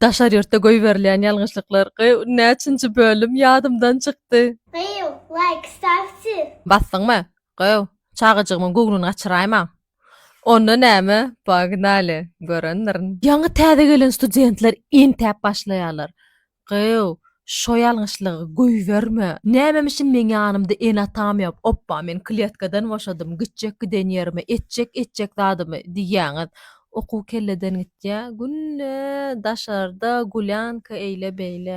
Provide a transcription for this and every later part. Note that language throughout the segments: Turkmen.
Daşary ýurtda goýberilýän ýalňyşlyklar gy näçinji bölüm ýadymdan çykdy. Gyýw, laýk stat siz. Basdyňmy? Gyýw, çagajygymyň göwnüni gaçyraýma. Onda näme, pognaly, görendirin. Ýaňy täze gelen studentler entäp başlaýarlar. Gyýw, şo ýalňyşlygy goýberme. Nämemişin meň ýanymda ene-atam ýok, opba men kletkadan boşadym, gitjek giden ýerime, etjek etjek zadymy diýýäňiz. Okuw kelleden gitýä günde daşarda gulýanka eýle beýle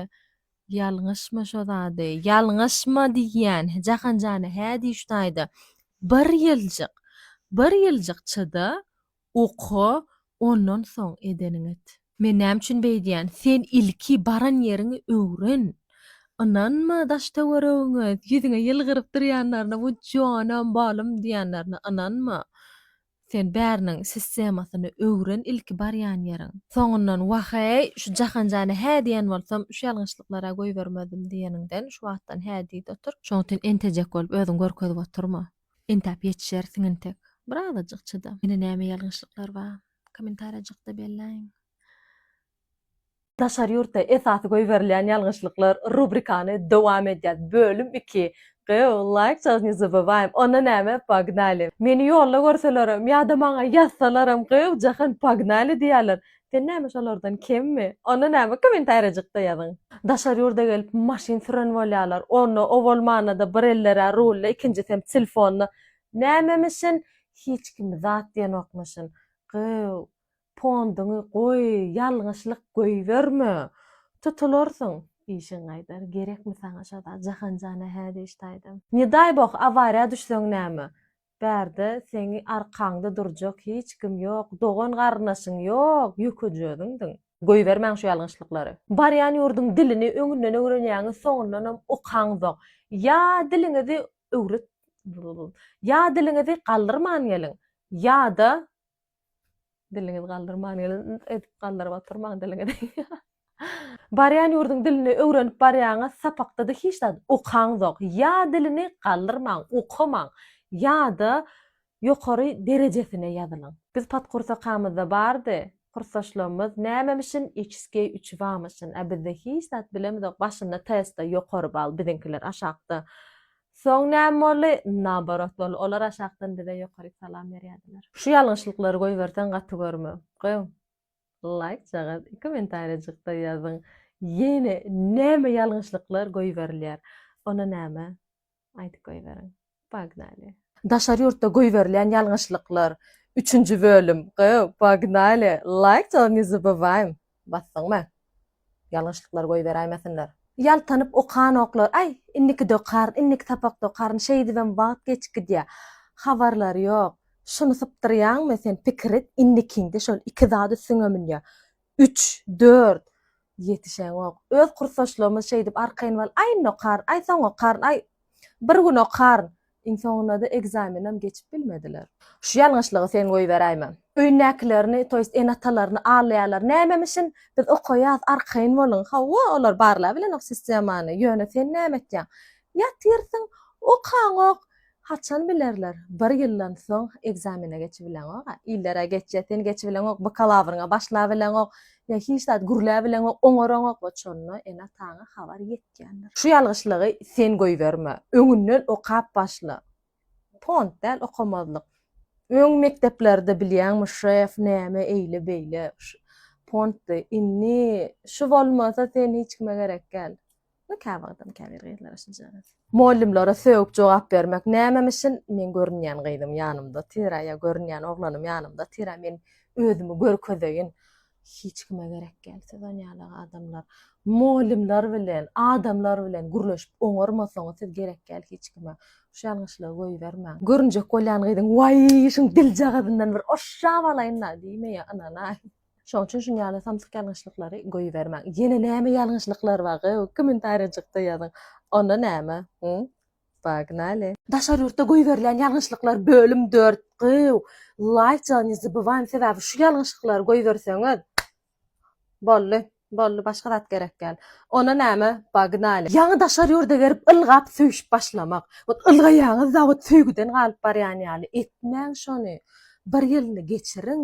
ýalňyşma şo zady ýalňyşma diýýän Jahanjana hä diýiş taýda bir ýyljyk bir ýyljyk çyda oka ondan soň edeniňi et. Men näme üçin beýdýän sen ilki baran ýeriňi öwren ynanma daş töweregiňe ýüzüňe ýylgyryp durýanlaryna bu jonam balym diýýänlerine ynanma Sen bäriniň sistemasyny öwren ilki barýan ýeriň. Soňundan wah-eý, şu Jahanjana hä diýen bolsam, şu ýalňyşlyklara goýbermezdim diýeniňden şu wagtdan hä diý-de otur. Şoň üçin entejek bolup özüňi görkezip oturma. Entäp ýetişersiň entek. Birazajyk çyda. Ýene näme ýalňyşlyklar bar? Kommentariýajykda belläýiň. Daşary ýurtda esasy goýberilýän ýalňyşlyklar rubrikany dowam edýär bölüm iki Gyýw laýk çal ne zabywaým onda näme pognaly. Meni ýolda görselerem ýa-da maňa ýazsalaram gyýw jahan pognaly diýýärler sen näme şolardan kemmi onda näme kommentariýajykda ýazyň. Daşary ýurda gelip maşyn süren bolýarlar onda o bolmanda-da bir ellerä rulda ikinjisem tilfonda nämemişin hiç kim zat diýenokmyşyn gyýw Ponduňy goý, ýalňyşlyk goýberme. Tutularsyň. Işiň gaýdar. Gerekmi saňa şa zat? Jahanjana hä diýiş taýdan. Ne daý boh, awariýa düşseň näme? Bärde seňi arkaňda durjak hiç kim ýok, dogan-garyndaşyň ýok, ýökeje özüňdiň. Goýbermäň şu ýalňyşlyklary. Barýan ýurduň dilini öňünden öwrenýäňiz, soňundanam okaňzok. Ýa diliňizi öwret, ýa diliňizi galdyrman geliň, ýa-da Diliňizi galdyrman gelip edip galdyryp oturmaň diliňizi. Barýan ýurduň dilini öwrenip barýaňyz sapakda-da hiç zat okaňzok. Ýa dilini galdyrmaň, okamaň, ýa-da ýokary derejesine ýazylyň. Biz podkursakamyzda bardy, kursdaşlarymyz nämemişin içskiý uçibamyşyn, a bizde hiç zat bilemizok, başynda testde ýokary bal, biziňkiler aşakda Soň näme boldy? Naoborot boldy. Olar aşakdan bize ýokaryk salam berýärdiler. Şu ýalňyşlyklary goýberseň gaty görme. Goýuň. Laýk jagaz i kommentariýajykda ýazyň ýene näme ýalňyşlyklar goýberilýär. Ony näme? Aýdyp goýberiň. Pognaly. Daşary ýurtda goýberilýän ýalňyşlyklar. Üçünji bölüm. Goýuň. Pognaly. Laýk jagaz ne zabowaým. Basdyňmy? Ýalňyşlyklar goýberäýmesinler. Ýaltanyp okanoklar. Aý, indiki dokaryn, indiki sapak dokaryn, şeýdibem wagt geçip gidýär. Habarlary ýok. Şuny sypdyrýaňmy, sen pikir et, indikiňde şol iki zat üstüňe münýär. Üç, dört. Ýetişeňok. Öz kursdaşlarymyz şeýdip arkaýyn bal, aý, indi okaryn, aý, soň okaryn, aý, bir gün okaryn. Iň soňunda-da ekzamenem geçip bilmediler. Şu ýalňyşlygy sen goýberäýme. Öýündäkilerini, to ýest ene-atalaryny aldaýarlar. Nämemişin, biz okaýas, arkaýyn boluň. Hawa, olar barlabilenok sistemany, ýöne sen näme etýäň? Ýatyrsyň, okaňok. Haçan bilerler? Bir ýyldan soň ekzamene geçibileňog-a. Iller-ä geçýär, sen geçibileňok, bakalawryňa başlabileňok. Ýa hiç zat gürläbileň we oňaraňokmy şonda ene-ataňa habar ýetýändir. Şu ýalgyşlygy sen goýberme. Öňünden okap başla. Pont däl okamazlyk. Öň mekdeplerde bilýäňmi şef näme eýle beýle pont indi şu bolmasa sen hiç kime gerek gäl. We käwagtam käbir gyzlara şunjagaz. Mollymlara sögüp jogap bermek nämemişin men görünýän gyzym ýanymda tira ýa görünýän oglanym ýanymda tira men özümi görkezeýin hiç kime gerek gel siz onýaly adamlar mollymlar bilen adamlar bilen gürleşip oňarmasaňyz siz gerek gel hiç kime şu ýalňyşlygy goýbermäň görünjek bolýan gyzyň waýy şuň diljagazyndan bir oşşap alaýynda diýmeýä ynanaýyn. Şoň üçin şun ýaly samsyk ýalňyşlyklary goýbermäň. Ýene näme ýalňyşlyklar bar gow? Kommentarýajykda ýazyň. Onda näme? Hum. Pognaly. Daşary ýurtda goýberilýän ýalňyşlyklar bölüm dört gow. Laýk ja ne zabywaým sebäbi şu ýalňyşyklary goýberseňiz boldy. Boldy başga zat gerek däl. Onda näme? Pognaly. Ýaňy daşary ýurda berip ylgap söýüşip başlamak. Ot ylgaýaňyzda ot söýgüden galyp barýan ýaly etmäň şony. Bir ýylyny geçiriň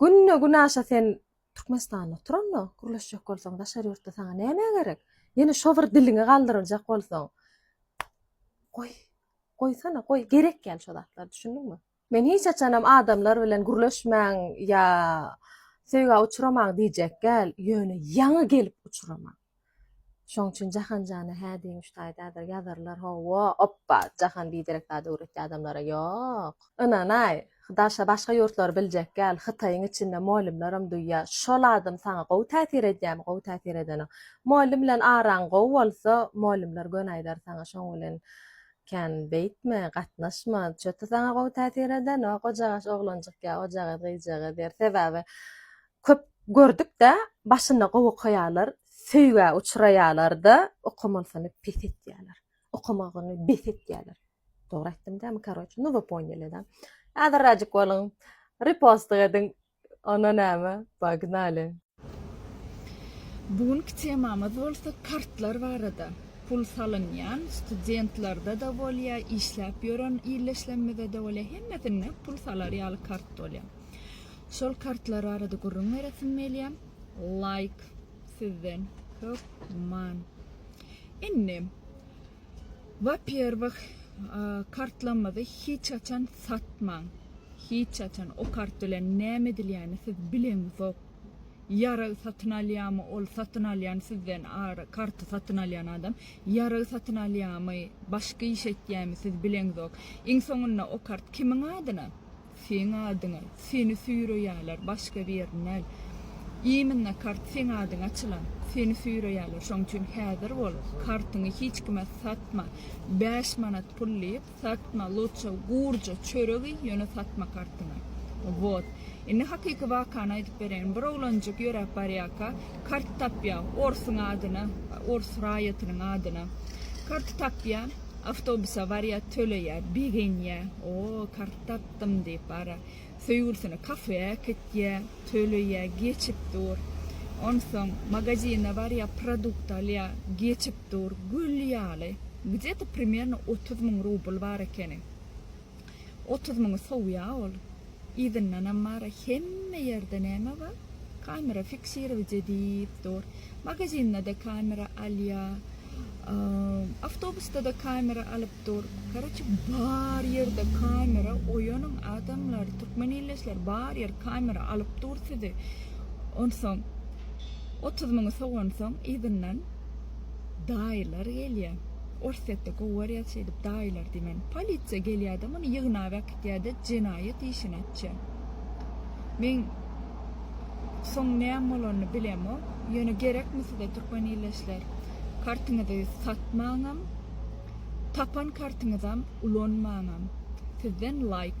Günde günaşa sen Türkmenistanda otur onda, gürleşjek bolsaň daşary ýurtda saňa näme gerek? Ýene şo bir diliňi galdyryljak bolsaň. Goý, goýsana, goý, gerek däl şo zatlar, düşündiňmi? Men hiç haçanam adamlar bilen gürleşmäň ýa söýgä uçramaň diýjek däl, ýöne ýaňy gelip uçramaň. Şoň üçin Jahan jana hä diýmiş taýdadyr, ýazarlar ho-wo, oppa, Jahan biderek zat öwretdi adamlara, ýok. Ynan-aý, daşa başga ýurtlary biljek gel, Hytaýyň içinde mugallymlaram duýýa, şol adam saňa gowy täsir edýämi, gowy täsir edeniň. Mugallym bilen araň gowy bolsa, mugallymlar göni aýdar saňa, şoň bilen kän beýtme, gatnaşma, çöti saňa gowy täsir edenok, ojagaş oglanjyk ýa ojagaz gyzjagaz der, sebäbi Köp gördükdä başynda gowy okaýarlar söýgä uçraýarlarda okamanysyny pes etýärler okamagyny bes etýärler dogry aýtdym dämi karoç nu we ponýeli da häzir razik boluň repostik ediň ona näme pognali. Bu günki temamyz bolsa kartlar barada. Pul salynýan studentlarda da bolýa, işläp ýören ildeşlerimizde de bolýa hemmesinde pul salar ýaly kart bolýa. Şol kartlar barada gürrüň beresim gelýär. Laýk sizden hökman. Indi wapýerwih kartlarymyzy hiç haçan satmaň. Hiç haçan o kart bilen näme edilýäni siz bileňizok. Ýarag satyn alýamy ol satyn alýan sizden karty satyn alýan adam ýarag satyn alýamy başga iş etýämi siz bileňizok. Iň soňunda o kart kimiň adyna Seň adyňa seni süýreýäler başga birini däl. Iminna kart seň adyňa açylan. Seni süýreýäler şoň üçin häzir bol kartyňy hiç kime satma bäş manat pul diýip satma luçe gurja çörek iý ýöne satma kartyňy. Wot. Indi hakyky wakany aýdyp bereýin bir oglanjyk ýöräp barýaka kart tapýa orsuň adyna ors raýatynyň adyna karty tapýa. Awtobus awariýa töleýä begenýä o kart tapdym diýip bara söýgülisine kafeä äkitýä töleýä geçip dur onsoň magazine barýa produkt alýa geçip dur gül ýaly gdeta primerno otuz müň rubl bar ekeni. Otuz müňi sowýa ol. Yzyndanam bara hemme ýerde näme bar? Kamera fiksirowje diýip dur. Magazinda-da kamera alýa. Awtobusda-da kamera alyp dur. Karoçe bar ýerde kamera oýanyň adamlar, türkmen illeşler bar ýer kamera alyp dur sizi. Onsoň otuz müňi sowansoň yzyndan. daýylar gelýä. Orsýetde gowarýa şeýdip daýylar diýmän. Polisiýa gelýä-de muny ýygnap äkitýä-de jenaýat işini açýa. Men soň näme bolanyny bilemok. Ýöne gerekmi size türkmen ildeşler? Kartyňyzy satmaňam, tapan kartyňyzam ulanmaňam. Sizden laýk.